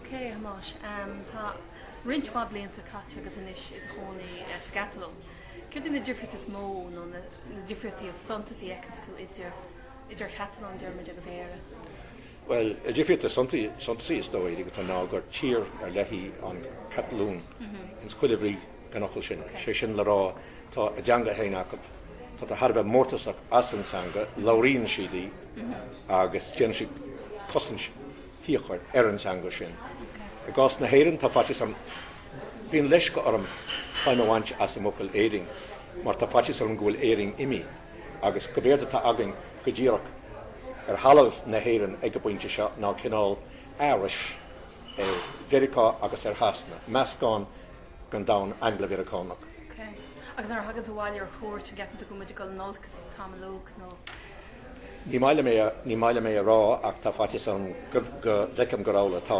Ok Thomáis, tá roinnt mhaith blianta caite agat anois i do chónaí sa gCatalóin. Céard iad na difríochtaí is mó nó na difríochtaí is suntasaí a fheiceanns tú idir an Chatalóin, déarfaimid, agus Éire? Bhuel, an difríocht is suntasaí is dóigh go atá ná gur tír ar leith í an Chatalóin ins chuile bhrí. den fhocal sin, sé sin le rá, tá a dteanga féin acu, táthar thar a bheith mórtasach as an teanga, labhraíonn siad í agus déanann siad cosaint fhíochmhar ar an teanga sin. I gcás na hÉireann, tá faitíos orm, bíonn leisce orm feidhm a bhaint as an bhfocal Éirinn mar tá faitíos orm go bhfuil Éirinn imithe agus gurb éard atá againn go díreach ar thalamh na hÉireann ag an bpointe seo ná cineál aithris ar Mheiriceá agus ar Shasana, meascán den domhan Angla-Mheiriceánach. Ok. Agus nuair a thagann tú abhaile ar chuairt an gceapann tú go bhfuil muid ag dul in olcas an t-am uilig nó? Ní maith liom é a, ní maith liom é a rá ach tá faitíos orm go, go bhfeicim gur amhlaidh atá,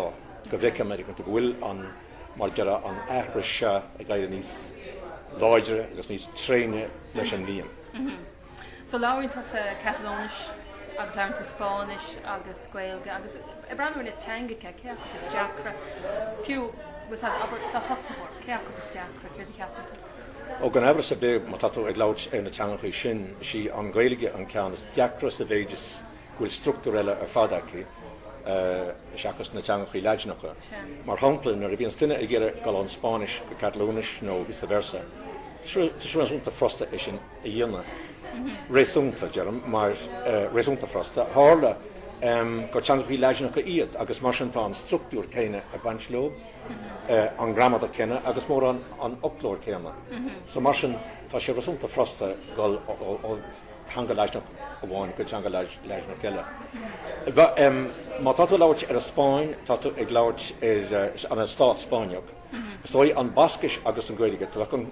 go bhfeicim ar go bhfuil an, mar a déarfá an aithris seo ag éirí níos láidre agus níos tréine leis an mbliain. So labhraíonn tusa Catalóinis agus labhraíonn tú Spáinnis agus Gaeilge agus ag breathnú ar na teangacha, cé acu is deacra, fiú agus abair do thosaitheoir, cé acu is deacra, céard a cheapann tú? Ó gan aimhreas ar bith má tá tú ag labhairt ar na teangachaí sin, is í an Ghaeilge an ceann is deacra sa mhéid is go bhfuil structúr eile ar fad aici, seachas na teangachaí Laidineacha. Mar shampla, nuair a bhíonns duine ag iarraidh dul ón Spáinnis go Catalóinis nó vice versa, tá sé réasúnta furasta é sin. a dhéanamh réasúnta, deirim, mar réasúnta furasta. Tharla gur teangachaí Laidineacha iad agus mar sin tá an structúr céanna ag baint leo, an gramadach céanna agus mórán an fhoclóir céanna. So mar sin tá sé réasúnta furasta dul ó theanga Laidineach amháin go teanga Laidineach eile. Má tá tú ag labhairt ar an Spáinn tá tú ag labhairt ar an Stát Spáinneach. Is dóigh an Bascais agus an Gaeilge, tá an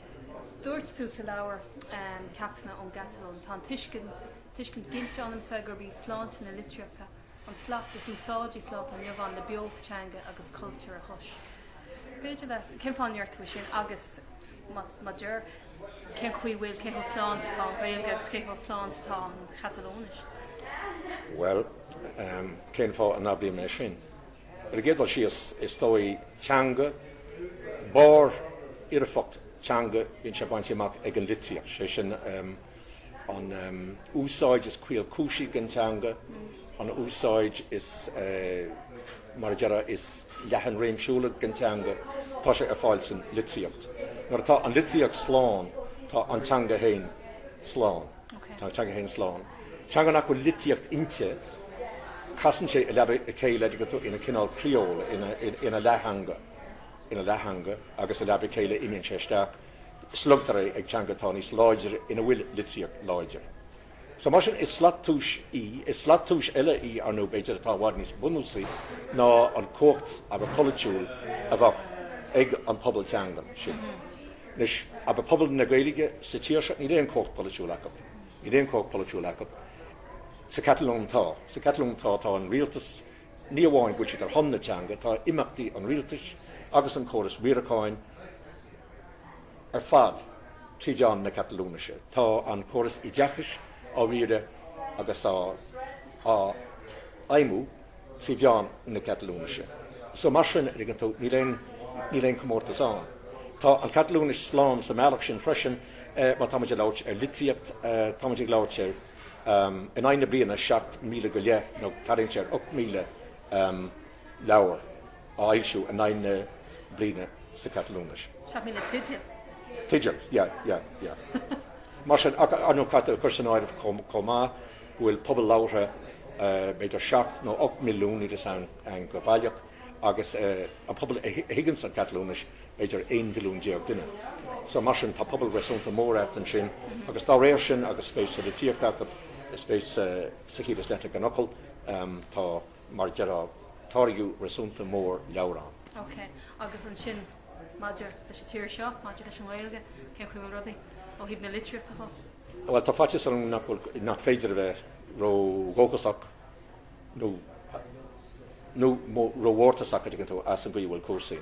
Dúirt tú sa leabhar Ceachtanna ón gCatalóin, Tá an tuiscint ginte ionamsa gurb í sláinte na litríochta an slat is úsáidí sa lá atá inniu ann le beocht teanga agus cultúir a thomhas. B'fhéidir le. Cén fáth a ndeir tú é sin agus, má deir, cén chaoi a bhfuil, cé chomh slán is atá an Ghaeilge agus cé chomh slán is atá an Chatalóinis? Bhuel, cén fáth a n-abraím é sin? Ar an gcéad dul síos, is dóigh, teanga, barrfhoirfeacht teanga bíonn sé bainte amach ag an litríocht, sé sin an úsáid is caolchúisí den teanga, an úsáid is, mar a déarfá, is leathan réimsiúla den teanga, tá sé ar fáil san litríocht. Nuair atá an litríocht slán, tá an teanga féin slán. Tá an teanga féin slán. Teanga nach bhfuil litríocht inti, casann sé i leaba a chéile a dtuigeann tú ina cineál criól, ina leath-theanga, agus i leaba a chéile imíonn sé isteach, slogtar é ag teanga atá níos láidre ina bhfuil litríocht láidir. So mar sin is slat tomhais í, is slat tomhais eile í ar ndóigh, b'fhéidir, atá i bhfad níos bunúsaí ná an cumhacht abair polaitiúil a bheadh ag an bpobal teangan sin. Anois, abair pobal na Gaeilge sa tír seo, níl aon chumhacht polaitiúil acu. Níl aon chumhacht polaitiúil acu. Sa Chatalóin tá. Sa Chatalóin tá, tá an rialtas, ní amháin go bhfuil siad ar shon na teanga, tá imeachtaí an rialtais agus an córas riaracháin ar fad trí mheán na Catalúinise. Tá an córas oideachais á riaradh agus á fheidhmiú trí mheán na Catalúinise. So mar sin, a dtuigeann tú, níl aon, níl aon comórtas ann. Tá an Catalúinis slán sa mbealach sin freisin, má táimid ag labhairt ar litríocht, táimid ag labhairt ar, in aghaidh na bliana, 7,000 go leith, nó tarraingt ar 8,000 leabhar á fhoilsiú in aghaidh na bliana sa Chatalúinis. 7,000 teideal. Teideal, yeah, yeah, yeah. Mar sin, ar ndóigh caithfidh tú a chur san áireamh chomh maith, go bhfuil pobal labhartha b'fhéidir seacht nó ocht milliún níl a fhios agam go baileach, agus an pobal a thuigeanns an Chatalúinis b'fhéidir aon mhilliún déag duine. So mar sin tá pobal réasúnta mór agat ansin, agus dá réir sin agus spéis sa litríocht acu, spéis sa chiall is leithne den fhocal, tá mar a déarfá táirgeadh réasúnta mór leabhar ann. Ok, agus ansin maidir leis an tír seo, maidir leis an nGaeilge, cén chaoi a bhfuil rudaí ó thaobh na litríochta dhó? Bhuel, tá faitíos orm nach féidir a bheith ró-dhóchasach nó nó ró-mhórtasach a dtuigeann tú as an gcaoi a bhfuil cúrsaí.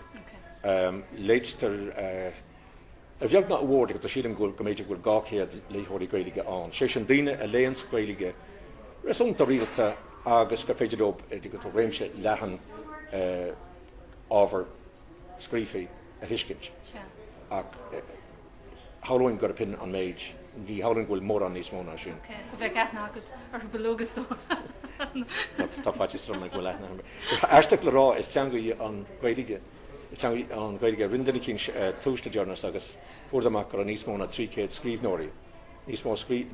Léitear a bheag ná a mhór a dtuigeann tú, sílim go mb'fhéidir go bhfuil dhá chéad léitheoirí Gaeilge ann, sé sin daoine a léanns Gaeilge réasúnta rialta agus gur féidir leo, a dtuigeann tú, réimse leathan ábhar scríofaí a thuiscint ach Shamhlóinn gurb shin an méid. Ní shamhlóinn go bhfuil mórán níos mó ná sin. Ok, so bheadh aithne agat orthu uilig is dóigh. Tá faitíos orm go bhfuil aithne agam. Tá aisteach le rá, is teanga í an Ghaeilge, is teanga í an Ghaeilge rinne duine eicínt tomhas le deireanas agus fuair siad amach go raibh níos mó ná trí chéad scríbhneoirí, níos mó a scríobh,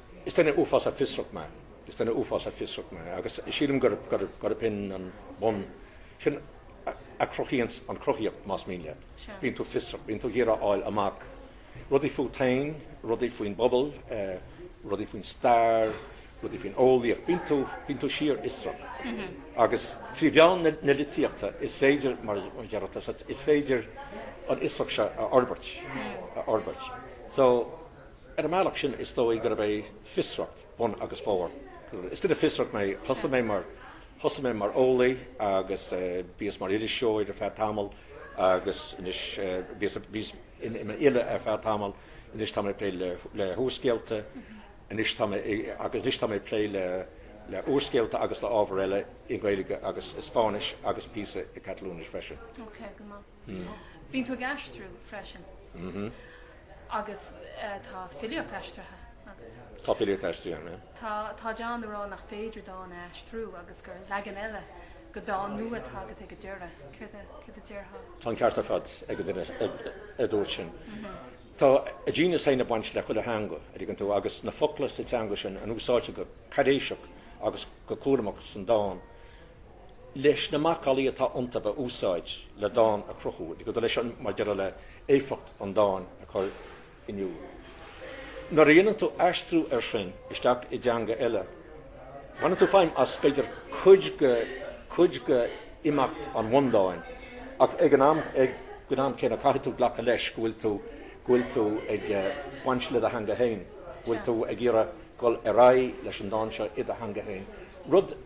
Is duine uafásach fiosrach mé. Is duine uafásach fiosrach mé agus sílim gurb shin an bun, sin a chruthaíonns an chruthaíocht, más mian leat. Bíonn tú fiosrach, bíonn tú ag iarraidh a fháil amach rudaí fút féin, rudaí faoin bpobal, rudaí faoin stair, rudaí faoin eolaíocht, bíonn tú síorfhiosrach. Agus trí mheán na litríochta is féidir, mar a déarfadh tusa, is féidir an fhiosracht seo a fhorbairt, a fhorbairt. So, Ar an mbealach sin is dóigh gurb é fiosracht bun agus barr. Is duine fiosrach mé. Thosaigh mé mar thosaigh mé mar eolaí agus bhíos mar iriseoir ar feadh tamaill agus anois bhíos bhíos in in fhile ar feadh tamaill. Anois tá mé ag plé le le húrscéalta. Anois tá mé agus anois tá mé ag plé le le úrscéalta agus le hábhar eile i nGaeilge agus i Spáinnis agus píosa i gCatalúinis freisin. Ok, go maith. Bíonn tú ag aistriú freisin agus tá filíocht aistrithe agat. Tá filíocht aistrithe agam, aye. Tá, tá daoine a rá nach féidir dán a aistriú agus gur leagan eile nó dán nua atá agat ag an deireadh. Céard a, céard a déarfá? Tá an ceart ar fad ag an duine a dúirt sin. Tá a genius féin ag baint le chuile theanga an dtuigeann tú agus na focla sa teanga sin a úsáidtear go cáiréiseach agus go cúramach san dán leis na macallaí atá iontu a úsáid le dán a chruthú i gcoda leis an mar a déarfá le éifeacht an dáin a chur in iúl. Nuair a dhéanann tú aistriú air sin isteach i dteanga eile baineann tú feidhm as b'fhéidir cuid de imeachtaí an bhundáin ach ag an am céanna caithfidh tú glacadh leis go bhfuil tú go bhfuil tú ag baint le do theanga féin, go bhfuil tú ag iarraidh dul ar aghaidh leis an dán seo i do theanga féin, rud.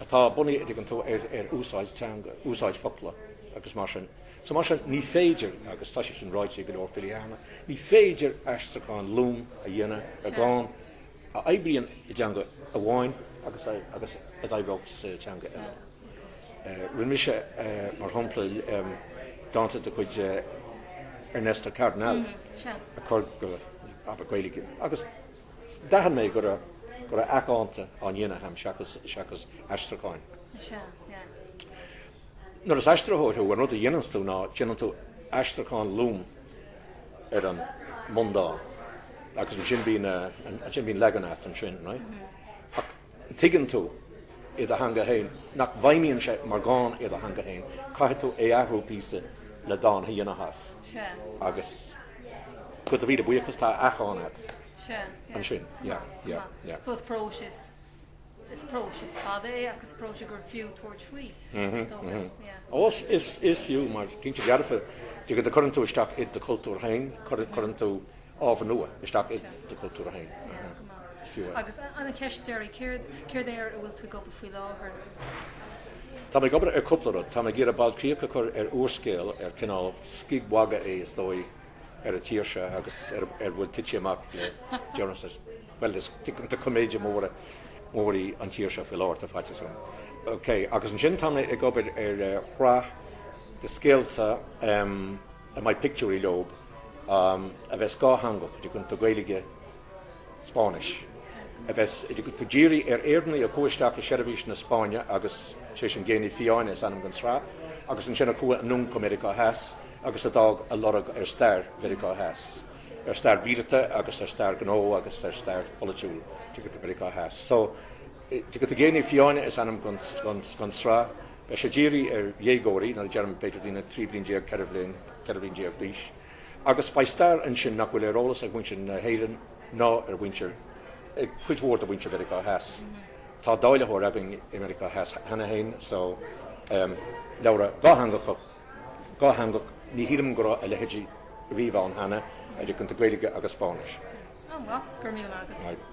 atá bunaithe an dtuigeann tú ar úsáid teanga, úsáid focla agus mar sin. So mar sin ní féidir, agus tá sé sin ráite ag go leor filí cheana, ní féidir aistriúchán lom a dhéanamh ar dhán a oibríonn i dteanga amháin agus agus a oibreoidh sa teanga eile. Rinne mise, mar shampla, dánta de chuid Ernesto Cardenal a chur go, abair, Gaeilge agus, D'aithin mé go raibh go raibh athdhánta á ndéanamh agam seachas seachas aistriúcháin. Is ea, ea. Nuair is aistritheoir thú, an rud a dhéananns tú ná déanann tú aistriúchán lom ar an mbundán agus ansin bíonn ansin bíonn leagan a'at ansin, right? Ach. Tuigeann tú, i do theanga féin, nach bhfeidhmíonn sé mar dhán i do theanga féin. Caithfidh tú é athrú píosa le dán a dhéanamh as. Agus de do mhíle buíochas, tá athdhán a't ansin. So is próiseas, is próiseas fada é ach is próiseas gur fiú tabhairt faoi, is dócha. Ó, is fiú, mar cinnte. Dearfa, cuireann tú isteach i do chultúr féin, cuireann tú. ábhar nua isteach i do chultúr héin, fiú é. Agus an an cheist deiridh, céard é ar a bhfuil tú ag obair faoi láthair? Táim ag obair ar cúpla rud. Táim ag iarraidh ball críoch a chur ar úrscéal ar cineál scigmhagadh é, is dóigh, ar an tír seo agus a bhfuil tite amach le deireanas, bhuel, is coiméide mór í an tír seo faoi láthair, tá faitíos orm. Ok, agus ansin táim ag obair ar shraith de scéalta. a mbeidh pictiúirí leob a bheas dhátheangach tuigeann tú Gaeilge 's Spáinnis, a bheas tuigeann tú dírithe ar Éireannaigh a chuaigh isteach i seirbhís na Spáinne agus, sé sin, Géannaí Fiáine is ainm don sraith, agus ansin a chuaigh anonn go Meiriceá Theas agus a d'fhág a lorg ar stair Mheiriceá Theas, ar stair mhíleata agus ar stair ghnó agus ar stair pholaitiúil tuigeann tú Mheiriceá Theas. So, tuigeann tú Géannaí Fiáine is ainm don sraith. Beidh sé dírithe ar dhéagóirí, nuair a deirim b'fhéidir daoine 13 bliain, 14 bhliain d'aois, agus beidh stair ansin nach bhfuil ar eolas ag muintir na hÉireann ná ar mhuintir, ag cuid mhór de mhuintir Mheiriceá Theas. Tá dáilitheoir againn i Meiriceá Theas cheana féin so ehm, leabhra dhátheangach, ní shílim go raibh a leithéidí riamh ann cheana, tuigeann tú Gaeilge agus Spáinnis. Oh, well,